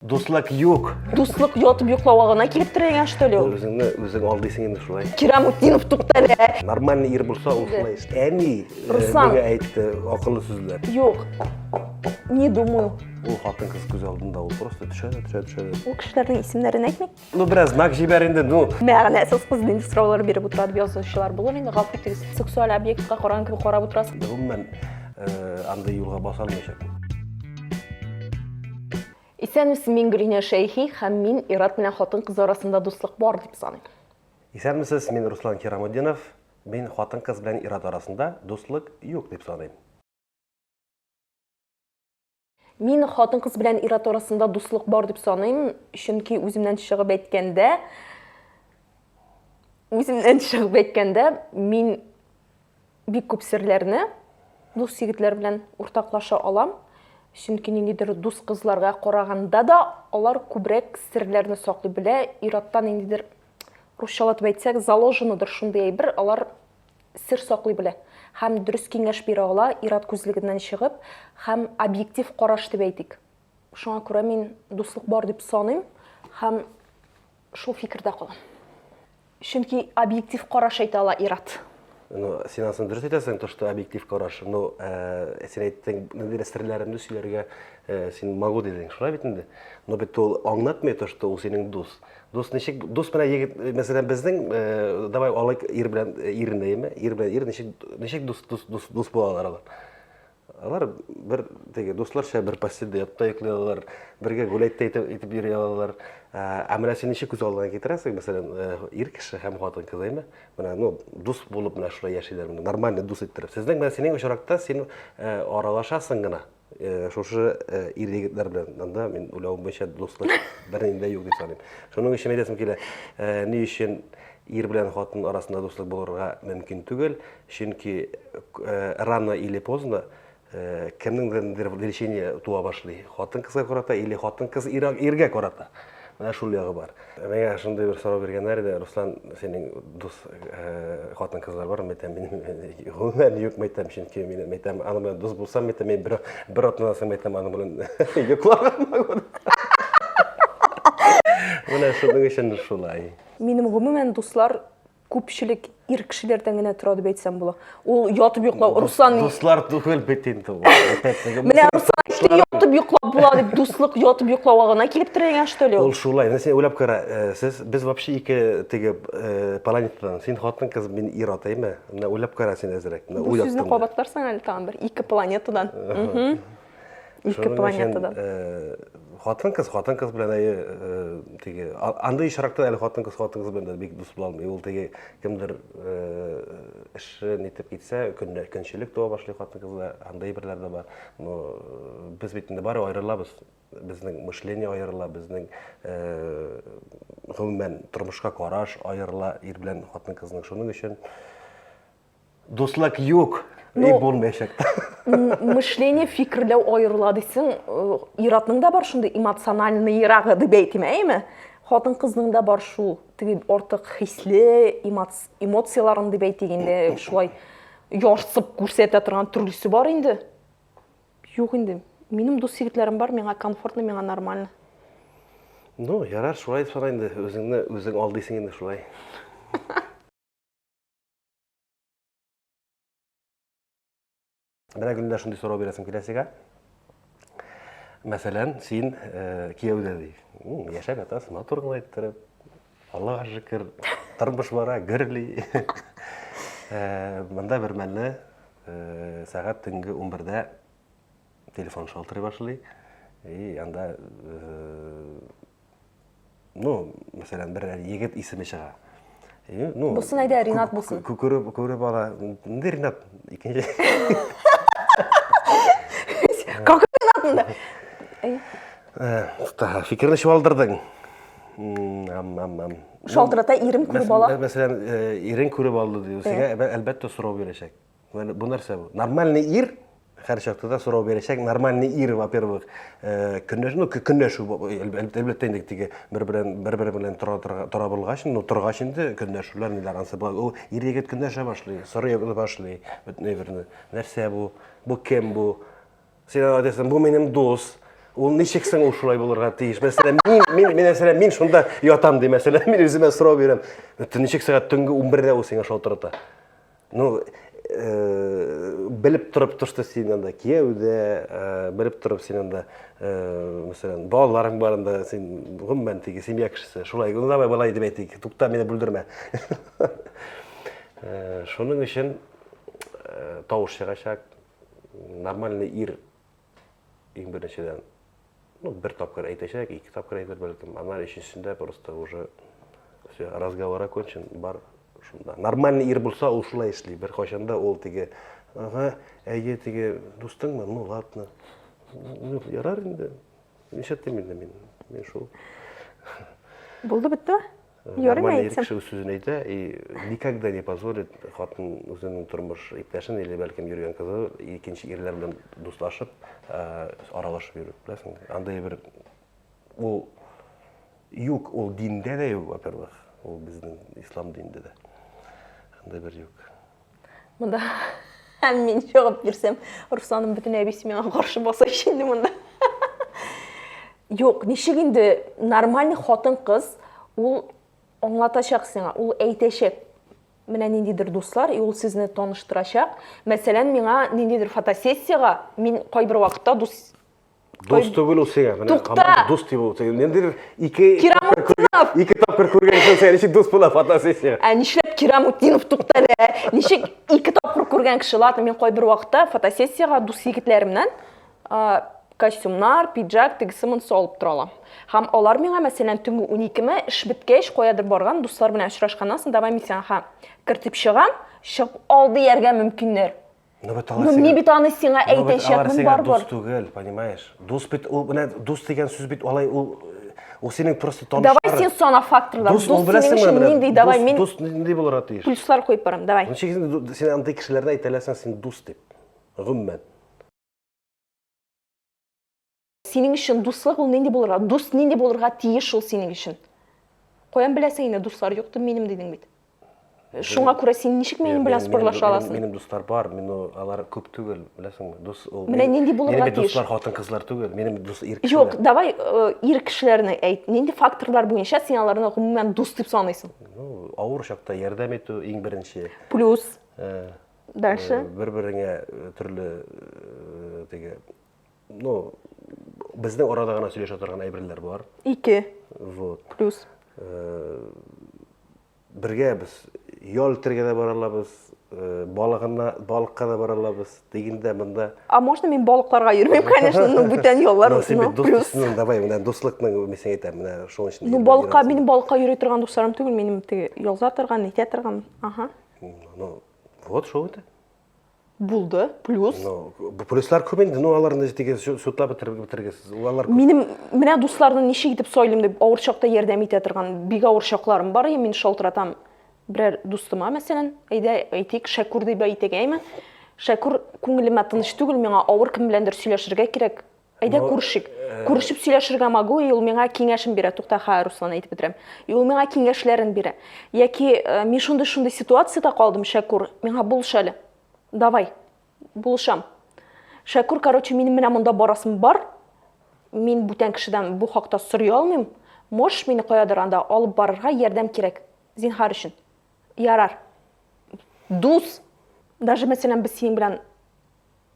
Дуслык юк. Дуслык ятып йоклауга гына килеп терәлгән что ли ул? Үзеңне үзең алдыйсың инде шулай. Кирамутдинов туктале. Нормальный ир булса ул шулай. Әни э, Руслан. нигә әйтте акыллы сүзләр. Юк. Не думаю. Ул хатын-кыз күз алдында ул просто төшә дә төшә төшә дә. Ул кешеләрнең исемнәрен әйтмик. Ну, бераз знак җибәр инде, ну. Мәгънәсез кыз нинди сораулар биреп утыра дип язучылар булыр инде. Гафу итегез, сексуаль объектка караган кебек карап утырасыз. Гомумән, э, андый юлга баса алмыйча. Исәнмесез, мин Гөлинә Шәйхи һәм мин ир-ат белән хатын-кыз арасында дуслык бар дип саныйм. Исәнмесез, мин Руслан Хирамутдинов. Мин хатын-кыз белән ир-ат арасында дуслык юк дип саныйм. Мин хатын-кыз белән ир-ат арасында дуслык бар дип саныйм, чөнки үземнән чыгып әйткәндә, үземнән чыгып әйткәндә, мин бик күп серләрне дус егетләр белән уртаклаша алам. Чөнки ниндидер дус кызларга караганда да алар күбрәк серләрне саклый белә. Ир-аттан ниндидер русчалатып әйтсәк, заложенадыр шундый әйбер, алар сер саклый белә һәм дөрес киңәш бирә ала, ир-ат күзлегеннән чыгып һәм объектив караш дип әйтик. Шуңа күрә мин дуслык бар дип саныйм һәм шул фикердә калам. Чөнки объектив караш әйтә ала ир-ат. Ну, син анысын дөрес әйтәсең, то, что объектив караш. Ну, э, син әйттең, ниндидер серләремне сөйләргә, э, син могу дидең, шулай бит инде. Но бит ул аңлатмый то, что ул синең дус. Дус ничек, дус белән егет, мәсәлән, безнең, э, давай алыйк ир белән э, ирне, яме, ир белән ир ничек, ничек дус, дус, дус, дус булалар алар. Алар бер теге дусларча бер постельдә ятта йоклый алалар, бергә гуләйтә итеп, итеп йөри алалар. Ә ә менә син ничек күз алдына китерәсең, мәсәлән, э, ир кеше һәм хатын кыз, яме, менә, ну, дус булып менә шулай яшиләр, менә нормальный дус иттереп. Сезнең менә синең очракта син э, аралашасың гына, Э, шушы э, ир егетләр белән анда мин уйлавым буенча дуслык бернинди дә юк дип саныйм шуның өчен әйтәсем килә э, ни өчен ир белән хатын арасында дуслык булырга мөмкин түгел чөнки рано или поздно кемнеңдер влечение туа башлый хатын кызга карата или хатын кыз иргә карата Менә шул ягы бар. Миңа шундый бер сорау биргәннәр иде, Руслан, синең дус хатын кызлар бар мәйтәм, минем гомумән юк мәйтәм, чөнки мин мәйтәм, аны белән дус булсам мәйтәм, мин бер бер атнадан соң мәйтәм, аны белән йокларга могу. Менә шуның өчен шулай. Минем гомумән дуслар Күпчелек ир кешеләрдән генә тора дип әйтсәм була. Ул ятып йоклау, Руслан... Дуслар түгел бит инде ул. Менә Руслан эшли ятып йоклап була дип дуслык ятып йоклауга гына килеп терәгән что ли? Ул шулай. Менә син уйлап кара, э, сез без вообще ике теге э, планетадан. Син хатын кыз, мин ир атаймы? Менә уйлап кара син әзрәк. Менә Бу сүзне кабатларсың әле тагын бер ике планетадан. Ике планетада. Э, хатын кыз, хатын кыз белән әйе, э, теге, андый очракта әле хатын кыз, хатын кыз белән бик дус була алмый. Ул теге кемдер э, эше нитеп китсә, көннәр көнчелек туа башлый хатын кызда, андый берләр дә бар. Но без бит инде бары аерылабыз. Безнең мышление аерыла, безнең гомумән тормышка караш аерыла ир белән хатын кызның. Шуның өчен Дуслык юк, ну, и булмаячак. Мышление фикерләү аерыла дисең, э, иратның да бар шундый эмоциональный ирагы дип әйтим, әйме? Хатын кызның да бар шул, теге артык хисле эмоцияләрен дип әйтик инде, шулай ярсып күрсәтә торган төрлесе бар инде. Юк инде. Минем дус егетләрем бар, миңа комфортно, миңа нормально. Ну, ярар, шулай сора инде, үзеңне үзең алдыйсың инде шулай. Менә гөлдә шундый сорау бирәсем килә сезгә. Мәсәлән, син э, кияүдә ди. Яшәп ятасың, матур гына иттереп. Аллага шөкер, тормыш бара, гөрли. Э, монда бер мәлне э, сәгать төнге 11-дә телефон шалтырый башлый. И анда э, ну мәсәлән бер егет исеме чыга ну булсын әйдә ринат булсын күреп күреп ала инде ринат икенче как ринатында фикерне чуалдырдың шалтырата ирем күреп ала мәсәлән ирең күреп алды диде сиңа әлбәттә сорау бирәчәк Бу нәрсә бу? Нормальный ир һәр чакта да сорау бирәчәк. Нормальный ир, во-первых, э, көнләшү, ну, көнләшү, әлбәттә, инде теге бер белән бер бер белән тора тора булгач, ну, торгач инде көнләшүләр ниләр ансы була. Ул ир егет көнләшә башлый, сорый башлый бөтен әйберне. Нәрсә бу? Бу кем бу? Син әйтәсең, бу минем дус. Ул ничек соң ул шулай булырга тиеш? Мәсәлән, мин мин мин мәсәлән, мин шунда ятам ди, мәсәлән, мин үземә сорау бирәм. Ничек сәгать төнге 11-дә ул сиңа шалтырата? Ну, белеп торып тошты син анда кияү дә, белеп торып син анда, мәсәлән, балаларың бар анда, син гомумән теге семья кешесе. Шулай, ну давай болай дип әйтик, тукта, мине бүлдермә. Шуның өчен тавыш чыгачак, нормальный ир Иң беренчедән, ну, бер тапкыр әйтәчәк, ике тапкыр әйтер бәлкем, аннан өченчесендә просто уже все, разговор окончен, бар шунда. Нормальный ир булса, ул шулай эшли. Бер кайчанда ул теге, ага, әйе, теге дустыңмы? Ну, ладно. Ну, ярар инде. Нишләттем инде мин? Мин шул. Булды бетте? Нормально ир кеше үз сүзен әйтә и никогда не позволит хатын үзенең тормыш иптәшен или бәлкем йөргән кызы икенче ирләр белән дуслашып аралашып йөрү беләсең андый бер ул юк ул диндә дә юк во первых ул безнең ислам динендә дә андый бер юк Монда һәм мин чыгып бирсәм, Русланым бүтән әбисе миңа каршы баса инде монда. Юк, ничек инде нормальный хатын кыз ул аңлатачак сиңа, ул әйтәчәк. Менә ниндидер дуслар, и ул сезне таныштырачак. Мәсәлән, миңа ниндидер фотосессиягә мин кайбер вакытта дус Дус түгел ул сиңа. Менә Тукта! дус дип ул. Нендер ике Кирамутдинов! Ике тапкыр күргәнсең сән, ничек дус була фотосессия? Ә нишләп Кирамутдинов тукта әле? Ә? Ничек ике тапкыр күргән кеше? Ладно, мин кайбер вакытта фотосессиягә дус егетләремнән а, костюмнар, пиджак, тегесе монысы алып тора алам. Һәм алар миңа, мәсәлән, төнге 12-ме эш беткәч, каядыр барган дуслар белән очрашканнан соң, давай мин сиңа кертеп чыгам, чыгып ал дияргә мөмкиннәр. Ну бит алар. Ну ни бит аны сиңа әйтәчәкмен бар бор. Дус түгел, понимаешь? Дус бит ул менә дус дигән сүз бит алай ул ул синең просто танышлар. Давай син сана факторлар. Дус ул беләсең менә менә. Нинди давай мин. Дус нинди булырга тиеш. Плюслар куеп барам, давай. Ничек син син андый кешеләрне әйтәләсең син дус дип. Гомумән. Синең өчен дуслык ул нинди булырга? Дус нинди булырга тиеш ул синең өчен? Каян беләсең инде дуслар юк дип минем дидең бит. Шуңа күрә син ничек минем белән спорлаша аласың? Минем дуслар бар, мин алар күп түгел, беләсеңме? Дус ул. Менә нинди булырга тиеш? Минем дуслар хатын-кызлар түгел, минем дус ир кешеләр. Юк, давай э, ир кешеләрне әйт. Нинди факторлар буенча син аларны гомумән дус дип саныйсың? Ну, авыр чакта ярдәм итү иң беренче. Плюс. Э, Дальше. Э, Бер-береңә төрле теге Ну, безнең арада гына сөйләшә торган әйберләр бар. Ике. Вот. Плюс. Э, бергә без ял итәргә дә бара алабыз, э, балыгына, балыкка да бара алабыз. Дигендә монда А можно мин балыкларга йөрмим, конечно, ну бүтән яллар. Ну, син бит дус плюс. дусның, давай, менә дуслыкның мин сиңа әйтәм, менә шуның өчен. Ну балыкка, минем балыкка йөри торган дусларым түгел, минем теге ялза торган, нитә торган. Ага. Ну, вот шул инде. Булды, плюс. Ну, плюслар күп инде, ну аларны тиге судлап бетергесез. Алар Минем менә дусларны ничек итеп сойлым дип авыр чакта ярдәм итә торган бик авыр чакларым бар, мин шалтыратам берәр дустыма, мәсәлән, әйдә әйтик, Шәкүр дип әйтик, әйме? Шәкүр күңелемә тыныч түгел, миңа авыр кем беләндер сөйләшергә кирәк, Әйдә күрешик. Күрешеп сөйләшергә могу, и ул миңа киңәшен бирә. Тукта, ха, Руслан әйтеп бетерәм. И ул миңа киңәшләрен бирә. Яки э, мин шундый-шундый ситуациядә калдым, Шәкүр, миңа булыш әле. Давай, булышам. Шәкүр, короче, минем менә монда барасым бар. Мин бүтән кешедән бу хакта сорый алмыйм. Можешь мине каядыр анда алып барырга ярдәм кирәк. Зинһар өчен. Ярар. Дус. Даже мәсәлән без синең белән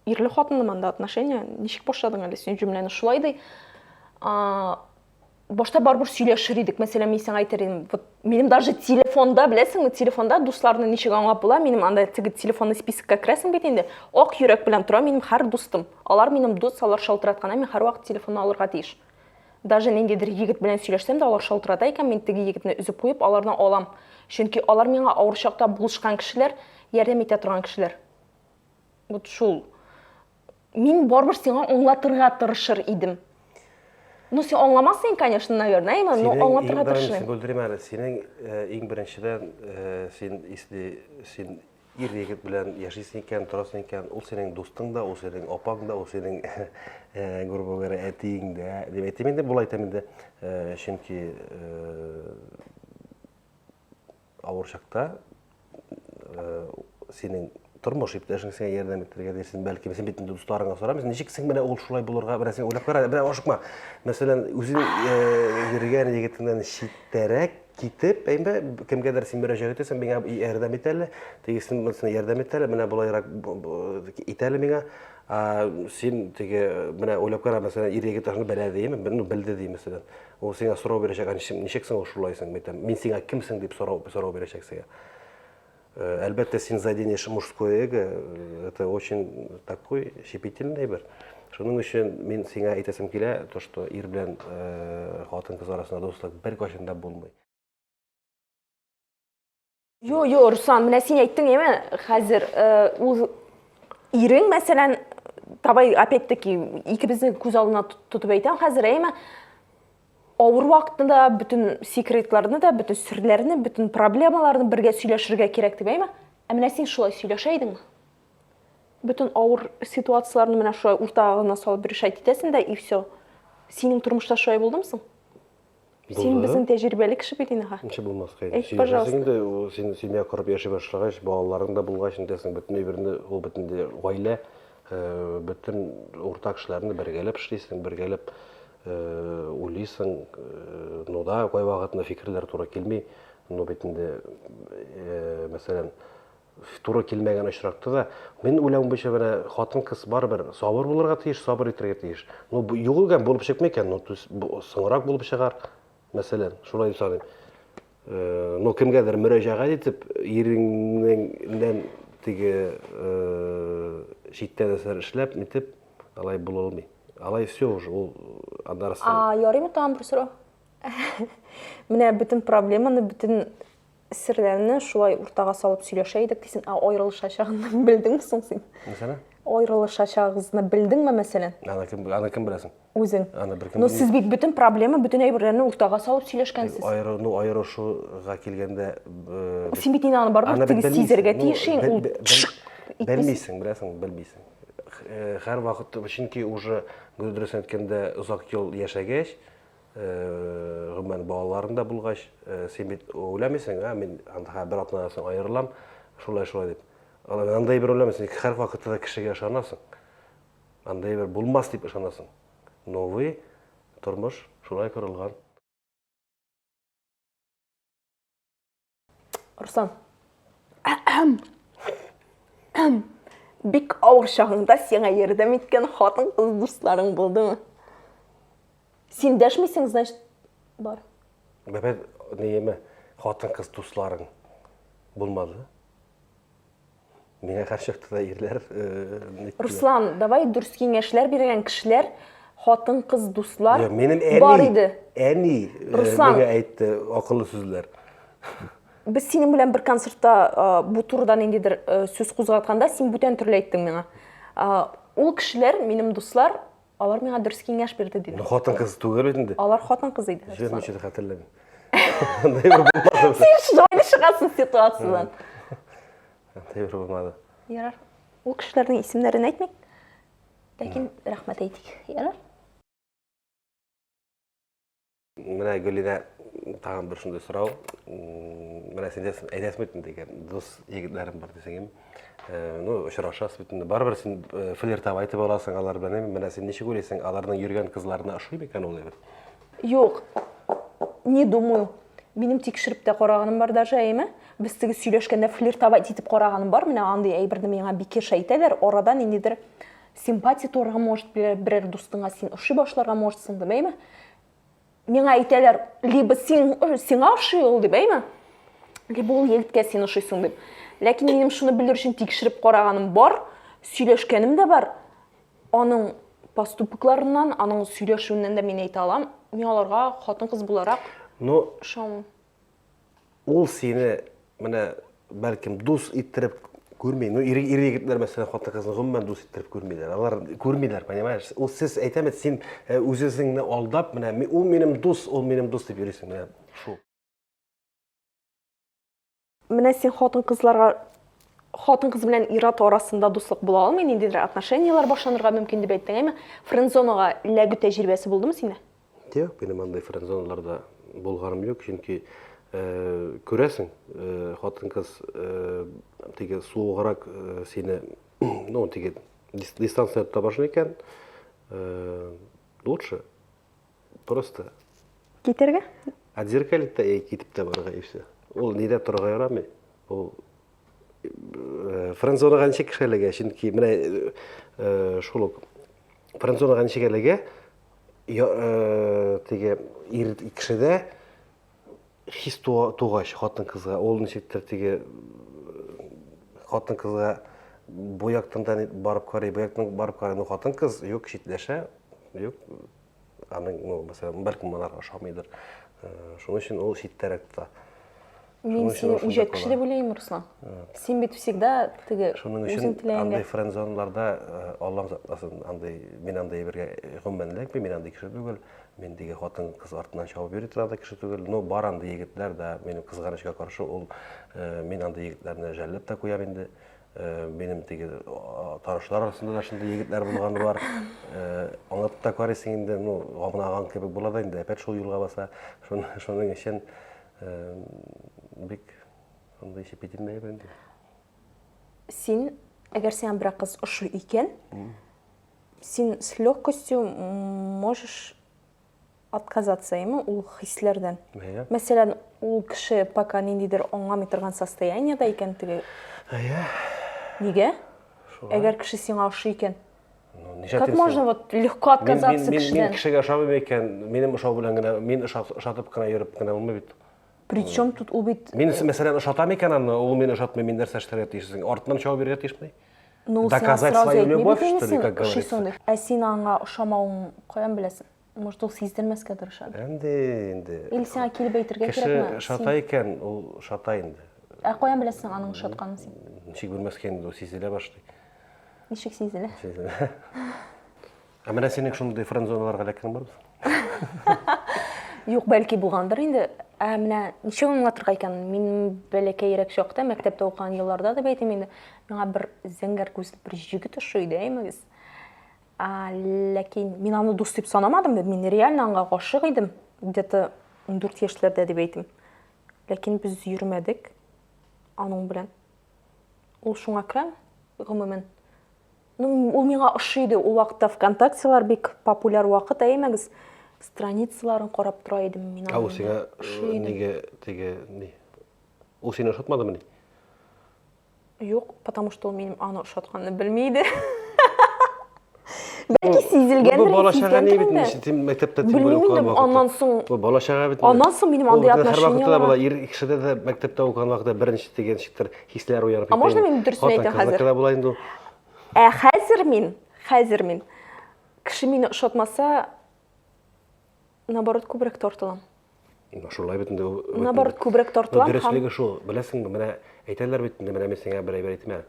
Ирле хатынлы монда отношения. Ничек башладың әле син җөмләне шулай ди. Башта барбур сөйләшер идек. Мәсәлән, мин сиңа әйтер идем, вот минем даже телефонда, беләсеңме, телефонда дусларны ничек аңлап була? Минем анда теге телефонный спискка керәсең бит инде. Ак йөрәк белән тора минем һәр дустым. Алар минем дус, алар шалтыратканда мин һәрвакыт телефонны алырга тиеш. Даже ниндидер егет белән сөйләшсәм дә, алар шалтырата икән, мин теге егетне өзеп куеп, аларны алам. Чөнки алар миңа авыр чакта булышкан кешеләр, ярдәм итә торган кешеләр. вот шул мин барыбер сиңа аңлатырга тырышыр идем ну син аңламассың конечно наверное но аңлатырга тырышыр идем бүлдерим әле синең э, иң беренчедән э, син если син ир егет белән яшисең икән торасың икән ул синең дустың да ул синең апаң да ул синең э, грубо говоря әтиең дә дип әйтәм инде болай әйтәм инде чөнки авыр чакта синең тормыш иптәшең сиңа ярдәм итәргә дисен бәлки син бит инде дусларыңа сорамыйсың ничек син менә ул шулай булырга менә син уйлап кара менә ашыкма мәсәлән үзең йөргән егетеңнән читтәрәк китеп әйме кемгәдер син мөрәҗәгать итәсең миңа ярдәм ит әле тегесен монысына ярдәм ит әле менә болайрак ит әле миңа син теге менә уйлап кара мәсәлән ир егет ашны белә димме белде ди мәсәлән Ул сиңа сорау бирәчәк, ә ничек, ничек соң ул шулай соң, мәйтәм, мин сиңа кемсең дип сорау, сорау бирәчәк сиңа. Э, әлбәттә, син заденешь мужское эго, э, это очень такой щепетильный бер. Шуның өчен мин сиңа әйтәсем килә, то, что ир белән э, хатын кыз арасында дуслык бер кашында булмый. Йо, йо, Руслан, менә син әйттең яме, хәзер э, ул ирең, мәсәлән, табай, опять-таки, икебезнең күз алдына тотып әйтәм хәзер, әйме, авыр вакытында бөтен секретларны да, бөтен серләрне, бөтен проблемаларны бергә сөйләшергә кирәк дип әйме. Ә менә син шулай сөйләшә идеңме? Бөтен авыр ситуацияләрне менә шулай уртагына салып решать итәсең дә и все. Синең тормышта шулай булдымы соң? Син безнең тәҗрибәле кеше бит инде. Ничә булмаска инде. Әйт, пожалуйста. Инде ул син семья корып яши башлагач, балаларың да булгач, инде син бөтен әйберне, ул бөтен гаилә, э, бөтен уртак эшләрне бергәләп эшлисең, бергәләп э, уйлыйсың. Э, ну да, кайвакытны фикерләр туры килми. Ну бит инде, э, мәсәлән, Туры килмәгән очракта да, минем уйлавым буенча, менә хатын-кыз барыбер сабыр булырга тиеш, сабыр итәргә тиеш. Ну, югыган булып чыкмый икән, ну, соңрак булып чыгар, мәсәлән, шулай дип саныйм. Э, ну, кемгәдер мөрәҗәгать итеп, иреңнән теге э, читтә нәрсәләр эшләп, нитеп, алай була алмый. Алай все уже, ул аннарысы. А, ярыймы тагын бер сорау? Менә бөтен проблеманы, бөтен Серләрне шулай уртага салып сөйләшә идек дисен, ә аерылышачагын белдеңме соң син? Мәсәлән? Аерылышачагыгызны белдеңме, мәсәлән? Аны кем, аны кем беләсен? Үзең. Аны бер кем Ну, сез бит бөтен проблема, бөтен әйберләрне уртага салып сөйләшкәнсез. Аеры, ну, аерышуга килгәндә... Э, син бит инде аны барыбер тигез сизергә тиешең. Ул... Белмисең, беләсең, белмисең. Хәр э, вакыт, чөнки уже, дөресен әйткәндә, озак ел яшәгәч, Гомумән, балаларың да булгач, син бит уйләмисең, ә мин анда бер атнадан соң аерылам, шулай-шулай дип. Андый бер уйләмисең, һәр вакытта да кешегә ышанасың. Андый бер булмас дип ышанасың. Новый тормыш шулай корылган. Руслан. Бик авыр чагыңда сиңа ярдәм иткән хатын-кыз дусларың булдымы? Син дәшмисең, значит, бар. Бәбәр, нееме, хатын-кыз дусларың булмады? Миңа каршы да ирләр. Э, Руслан, давай дөрес киңәшләр биргән кешеләр, хатын, кыз, дуслар бар иде. Әни э, Руслан, миңа әйтте акыллы сүзләр. Без синең белән бер концертта э, бу турыда ниндидер сүз кузгатканда, син бүтән төрле әйттең миңа. Ул кешеләр, минем дуслар, Алар миңа дөрес киңәш бирде диде. Хатын кыз түгел бит инде. Алар хатын кыз иде. Җыр ничек хәтерләмим. Андай бер булмады. Син җайлы чыгасың ситуациядән. Андай бер булмады. Ярар. Ул кешеләрнең исемнәрен әйтмик. Ләкин рәхмәт әйтик. Ярар. Менә Гөлинә тагын бер шундый сорау. Менә син дисең, әйтәсең бит инде, егер, дус егетләрем бар дисең инде. Э, ну, очрашасыз бит инде. Барыбер син э, флиртап айтып аласың алар белән. Менә син ничек уйлыйсың, аларның йөргән кызларына ошый микән ул егет? Юк. Не думаю. Минем тикшереп тә караганым бар даже әйме. Без теге сөйләшкәндә флиртовать итеп караганым бар. Менә андый әйберне миңа бикеш әйтәләр. Арада ниндидер Симпатия туарга может берәр дустыңа син ошый башларга можетсың дип әйме? Миңа әйтәләр, либо син сиңа ошый ул дип әйме? Либо ул егеткә син ошыйсың дип. Ләкин минем шуны белер өчен тикшереп караганым бар, сөйләшкәнем дә бар. Аның поступокларыннан, аның сөйләшүеннән дә мин әйтә алам, мин аларга хатын-кыз буларак Ну, шам. Ул сине менә бәлкем дус иттереп күрми. Ну, ир, ир егетләр мәсәлән хатын-кызны гомумән дус иттереп күрмиләр. Алар күрмиләр, понимаешь? Ул сез әйтәме, син э, үзеңне алдап, менә ул минем дус, ул минем дус дип йөрисең менә шул. Менә син хатын-кызларга хатын-кыз белән ир-ат арасында дуслык була алмый, ниндидер отношенияләр башланырга мөмкин дип әйттең, әйме? Френдзонага эләгү тәҗрибәсе булдымы синдә? Юк, минем андый френдзоналарда булганым юк, чөнки күрәсең, хатын-кыз теге суыграк сине, ну, теге дистанция тота башлый икән, лучше просто китергә? Отзеркалить та китеп тә барырга и все. Ул нидә торырга ярамый? Ул френдзонаға ничек кешелеге, чөнки менә шул ук френдзонаға ничек әлегә Э, теге ир кешедә хис тугач хатын кызга ул ничектер теге э, хатын кызга бу яктан да барып карый бу яктан барып карый ну хатын кыз юк читләшә юк аның ну мәсәлән бәлкем алар ошамыйдыр э, шуның өчен ул читтәрәк тота Мин сине үҗәт кеше дип уйлыйм, Руслан. Син бит всегда теге Шуның өчен андый френдзонларда э, Аллам сакласын, андый мин андый әйбергә э, гомумән эләкми, мин андый кеше түгел. Мин диге хатын кыз артыннан чабып йөри торган кеше түгел. Но бар андый егетләр да минем кызганычка каршы ул э, мин андый егетләрне жәлләп тә куям инде. Минем теге танышлар арасында да шундый егетләр булганы бар. Аңлатып та карыйсың инде, ну, гамнаган кебек була да инде, әпәт шул юлга баса. Шуның өчен Бик андый ишеп кителмәй бәнде. Син, әгәр сиңа бер кыз ошый икән, син с легкостью можешь отказаться ему ул хисләрдән. Әйе. Мәсәлән, ул кеше пока ниндидер аңламый торган состояниедә икән теге. Әйе. Нигә? Әгәр кеше сиңа ошый икән. Ну, ничә Как можно вот легко отказаться мин, мин, кешедән? Мин кешегә ошамыйм икән, минем ошау белән генә, мин ошатып кына йөреп кенә булмый бит. Причем тут ул бит... Мин, э, мәсәлән, ошатам икән аны, ул мине ошатмый, мин нәрсә эшләргә тиешсең? Артыннан чавап бирергә тиешмени? Ну, Доказать свою любовь, что ли, как говорится? Ә син аңа ошамавың каян беләсең? может ул сиздермәскә тырыша әнде инде или сиңа килеп әйтергә кирәкме кеше шата икән ул шата инде ә каян беләсең аның шатканын син ничек белмәскә инде ул сизелә башлый ничек сизелә сизелә ә менә синең шундый френдзоналарга эләккән бармы юк бәлки булгандыр инде ә менә ничек аңлатырга икән мин бәләкәерәк чакта мәктәптә укыган елларда дип әйтим инде миңа бер зәңгәр күзле бер җегет ошый иде әймәгез ләкин мин аны дус дип санамадым мин реально аңа гашык идем где то ундүрт яшьләрдә дип әйтим ләкин без йөрмәдек аның белән ул шуңа керәм гомумән ну ул миңа ошый иде ул вакытта вконтактелар бик популяр вакыт әймәгез страницаларын карап тора идем мин ул сиңа неге теге ни ул сине ошатмадымыни Юк, потому что ул минем аны ошатканны белми иде. Бәлки сизелгәндер. Бу бала чага ни бит инде, тем мәктәптә тем более укыган вакытта. Аннан соң Бу бала чага бит. Аннан соң минем андый отношение. Һәр вакытта ир кешедә дә мәктәптә укыган вакытта беренче дигән шиктер хисләр уянып китә. А можно мин дөресен әйтәм хәзер? Хатын була инде. Ә хәзер мин, хәзер мин кеше мине ошатмаса, Наоборот, күбрәк тартылам. Шулай бит инде. Наоборот, күбрәк тартылам. Дөреслеге шул. Беләсеңме, менә әйтәләр бит инде, менә мин сиңа бер әйбер әйтмә.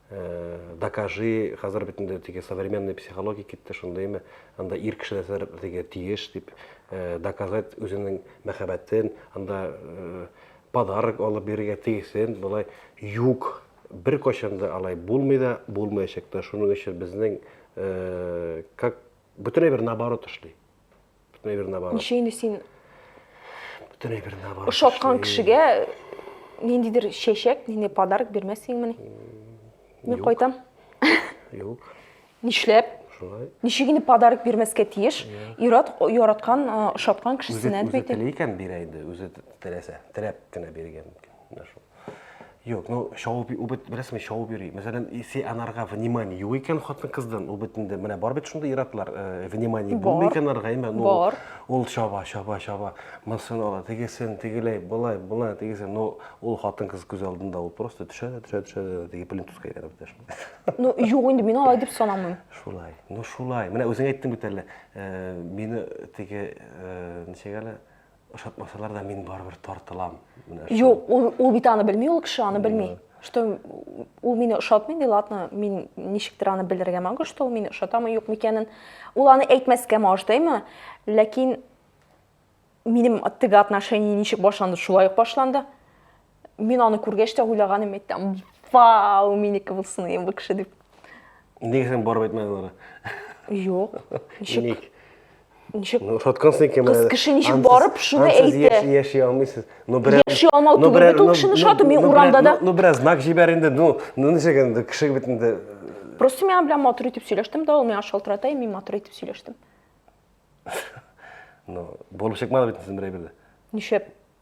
Э, докажи, хәзер бит инде теге современный психология китте, шундыймы? Анда ир кеше нәрсәләр теге тиеш дип э, доказать үзенең мәхәббәтен, анда э, подарок алып бирергә тиешсен, болай юк. Бер качанда алай булмый да, булмаячак та. Шуның өчен безнең как Бөтенләй бер наоборот эшли. Бөтенләй бер наоборот. Ничә инде син Бөтенләй бер наоборот. Ошаткан кешегә ниндидер чәчәк, нинди подарок бирмәссеңмени? Мин кайтам. Юк. Нишләп? Шулай. Ничек инде подарок бирмәскә тиеш? Ират яраткан, ошаткан кешесенә бит. Үзе теләгән бирә инде, үзе теләсә, теләп кенә биргән. Менә шул. Юк, ну шауып ул бит беләсеңме, шауып йөри. Мәсәлән, если анарга внимание юк икән хатын-кыздан, ул бит инде менә бар бит шундый иратлар, э, внимание булмый икән анарга, әмма ну бар. ул шаба, шаба, шаба, монысын ала, тегесен, тегеләй, былай, былай, тегесен. Ну, ул хатын-кыз күз алдында ул просто төшә дә, төшә, төшә дә, теге плинтуска әйләнеп төшә. Ну, юк инде мин алай дип санамыйм. Шулай. Ну, шулай. Менә үзең әйттең бит әле, э, мине теге, э, ничек әле, Ошатмасалар да мин барыбер тартылам. Юк, ул, ул бит аны белми, ул кеше аны белми. Что ул мине ошатмый, ди, ладно, мин ничектер аны белергә могу, что ул мине ошатамы, юк микәнен. Ул аны әйтмәскә мождыймы, ләкин минем теге отношение ничек башланды, шулай ук башланды. Мин аны күргәч тә уйлаганым әйттем. Вау, минеке булсын инде бу кеше дип. Нигә син барып әйтмәдең аларга? Юк. Ничек? Ничек? Ну, тоткансың икән. Кыз кеше ничек барып шуны әйтте? Сез яши алмыйсыз. Ну, берәр Яши алмау түгел, бит ул кешене шатым, мин урамда да. Ну, бераз знак җибәр инде. Ну, ну ничек инде кеше бит инде. Просто миңа белән матур итеп сөйләштем да, ул миңа шалтырата, мин матур итеп сөйләштем. Ну, булып чыкмады бит син берәй бирдә. Ничек?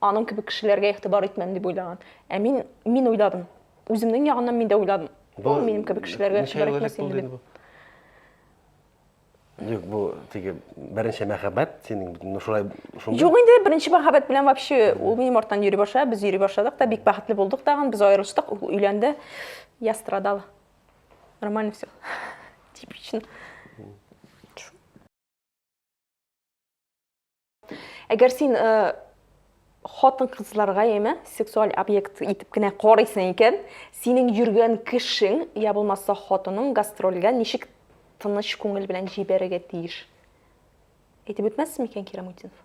Аның кебек кешеләргә игътибар итмәм дип уйлаган. Ә мин, мин уйладым. Үземнең ягыннан мин дә уйладым. Бу минем кебек кешеләргә игътибар итмәс инде дип. Юк, бу теге беренче мәхәббәт синең ну шулай шундый. Юк инде, беренче мәхәббәт белән вообще ул минем арттан йөри башлады, без йөри башладык та, бик бәхетле булдык тагын, без аерылыштык, ул өйләнде. Я страдала. Нормально все. Типично. Әгәр син хатын-кызларга яме сексуаль объект итеп кенә карыйсың икән, синең йөргән кешең я булмаса хатының гастрольгә ничек тыныч күңел белән җибәрергә тиеш? Әйтеп үтмәссең микән Кирамутдинов?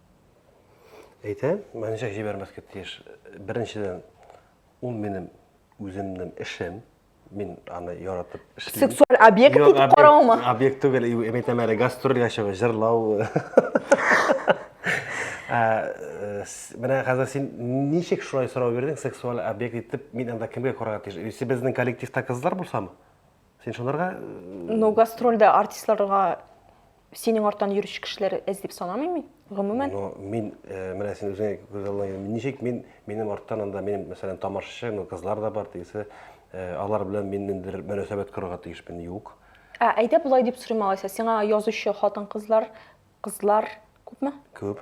Әйтәм, ничек җибәрмәскә тиеш? Беренчедән, ул минем үземнең эшем. мин аны яратып эшлим. Сексуаль объект итеп караумы? Объект түгел, мин әйтәм әле гастрольгә чыгып җырлау. Э, менә хәзер син ничек шулай сорау бирдең, сексуаль объект итеп, мин анда кемгә карарга тиеш? Если безнең коллективта кызлар булсамы? Син шуларга э, Ну, гастрольдә артистларга Синең арттан йөрүче кешеләр эз дип санамыйм мин, гомумән. Ну, мин, э, менә син үзең күз алдыңа, ничек мин, минем арттан анда, минем, мәсәлән, тамашачы, ну, кызлар да бар, тегесе, э, алар белән мин ниндидер мөнәсәбәт корырга тиешмен, юк. Ә, әйдә болай дип сорыйм алайса, сиңа язучы хатын-кызлар, кызлар күпме? Күп.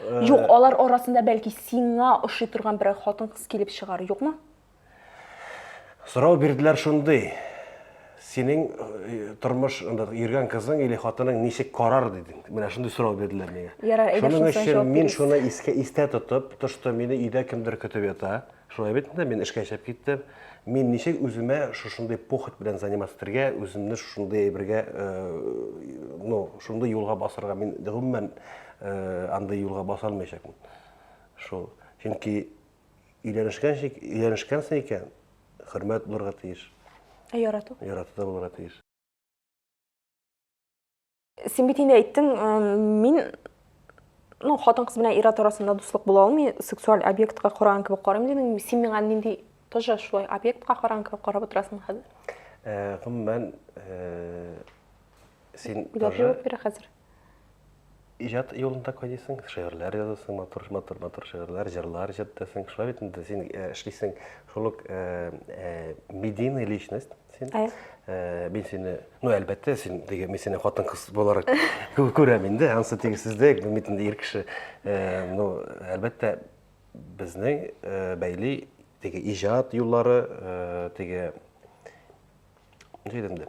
Э, Юк, алар арасында бәлки сиңа ошый торган берәр хатын-кыз килеп чыгар, юкмы? Сорау бирделәр шундый. Синең э, тормыш анда йөргән кызың или хатының ничек карар диде. Менә шундый сорау бирделәр миңа. Ярар, әйдә шуның өчен мин шуны искә истә тотып, тошты мине өйдә кемдер көтеп ята. Шулай бит инде, мин эшкә чыгып киттем. Мин ничек үземә шушындый похоть белән заниматься итәргә, үземне шушындый әйбергә, э, ну, шундый юлга басырга мин гомумән Андый юлга баса алмыйчакмын. Шул. Чөнки өйләнешкәнче, өйләнешкәнсең икән, хөрмәт булырга тиеш. Ә ярату? Ярату да булырга тиеш. Син бит инде әйттең, мин ну, хатын кыз белән ир-ат арасында дуслык була алмый, сексуаль объектка караган кебек карыйм дидең. Син миңа нинди тоже шулай объектка караган кебек карап утырасың хәзер? Гомумән, син тоже... Бирә хәзер. иҗат юлында кайныйсың, шигырьләр язасың, матур, матур, матур шигырьләр, җырлар иҗаттасың. Шулай бит инде син э, эшлисең, шул ук э, э, медийный личность син. Ая. Э, мин сине, ну, әлбәттә, син теге, мин сине хатын-кыз буларак кү- күрәм инде, ансы тигезсездәй, бу бит инде ир кеше. Э, ну, әлбәттә, безне э, бәйли теге иҗат юллары, э, теге, ничек әйтәм инде,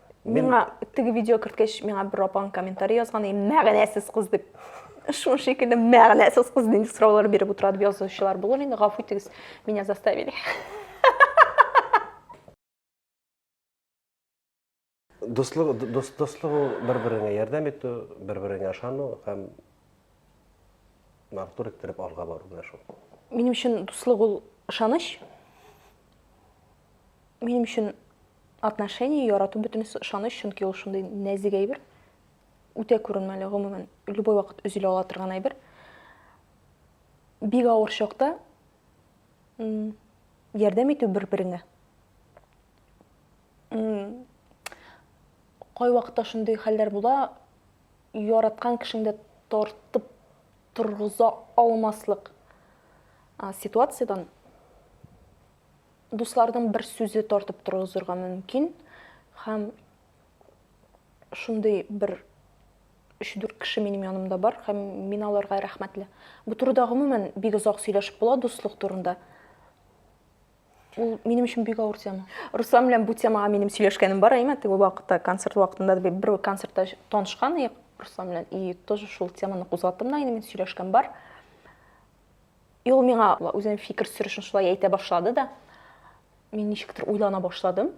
Миңа теге видео керткәч, миңа бер апаң комментарий язган, и мәгънәсез кыз дип. Шул шикелле мәгънәсез кыз нинди сораулар биреп утыра дип язучылар булыр инде, гафу итегез, меня заставили. Дуслык, дус, дуслык ул бер-береңә ярдәм итү, бер-береңә ышану һәм матур иттереп алга бару менә шул. Минем өчен дуслык ул ышаныч. Минем өчен Отношение, ярату бөтенесе ышаныч, чөнки ул шундый нәзик әйбер, үтә күренмәле, гомумән, любой вакыт өзелә ала торган әйбер. Бик авыр чакта ярдәм итү бер-береңә. Кай вакытта шундый хәлләр була, яраткан кешеңдә тартып торгыза алмаслык ситуациядән Дусларның бер сүзе тартып торгызырга мөмкин. Хәм шундый бер 3-4 кеше минем янымда бар һәм мин аларга рәхмәтле. Бу турыда гомумән бик озак сөйләшеп була дуслык турында. Ул минем өчен бик авыр тема. Руслан белән бу темага минем сөйләшкәнем бар, әйме, теге вакытта концерт вакытында да бер концертта танышкан идек Руслан белән и тоже шул теманы кузгаттым да инде мин сөйләшкән бар. Ул миңа үзенең фикер сөрешен шулай әйтә башлады да, мин ничектер уйлана башладым.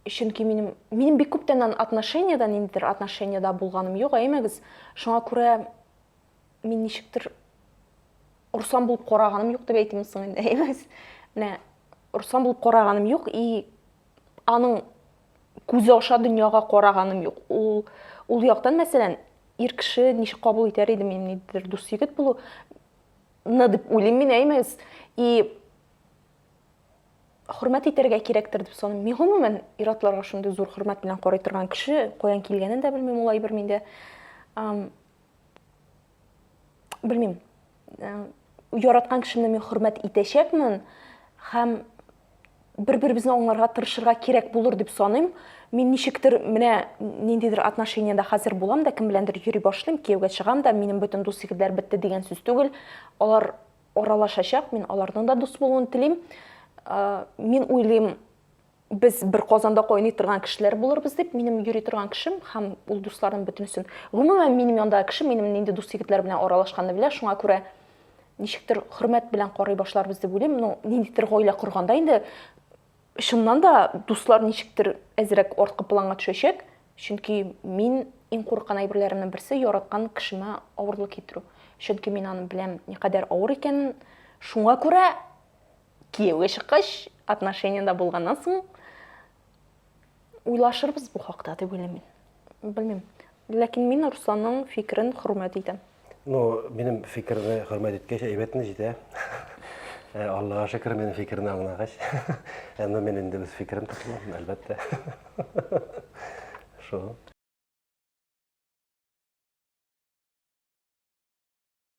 Чөнки минем минем бик күптәннән отношениядә ниндидер отношениедә булганым юк, әймәгез. Шуңа күрә мин ничектер урсан булып караганым юк дип әйтимме соң инде, әймәгез. Менә урсан булып караганым юк и аның күзе аша дөньяга караганым юк. Ул ул яктан, мәсәлән, ир кеше ничек кабул итәр иде мин нидер дус егет булу? Ны дип уйлыйм мин, әймәгез. И хөрмәт итәргә кирәктер дип саныйм. Мин гомумән иратларга шундый зур хөрмәт белән карый торган кеше, каян килгәнен дә белмим ул әйбер миндә. Белмим. яраткан кешемне мин хөрмәт итәчәкмен һәм бер-беребезне аңларга тырышырга кирәк булыр дип саныйм. Мин ничектер менә ниндидер отношениядә хәзер булам да, кем беләндер йөри башлыйм, кияүгә чыгам да, минем бөтен дус егетләр бетте дигән сүз түгел. Алар аралашачак, мин аларның да дус булуын телим. Мин уйлыйм, без бер казанда кайный торган кешеләр булырбыз дип минем йөри торган кешем һәм ул дусларым бөтенесен гомумән минем яндагы кеше минем нинди дус егетләр белән аралашканны белә шуңа күрә ничектер хөрмәт белән карый башларбыз дип уйлыйм ну ниндидер гаилә корганда инде чыннан да дуслар ничектер әзрәк арткы планга төшәчәк чөнки мин иң курыккан әйберләремнең берсе яраткан кешемә авырлык китерү чөнки мин аны беләм никадәр авыр икәнен шуңа күрә Кияүгә чыккач, отношениедә булганнан соң уйлашырбыз бу хакта дип уйлыйм мин. Белмим. Ләкин мин Русланның фикерен хөрмәт итәм. Ну, минем фикерне хөрмәт иткәч, әйбәтне җитә. Э, Аллага шөкер, минем фикерне аңлагач. Әмма мин инде үз фикерем тотылам, әлбәттә. Шул.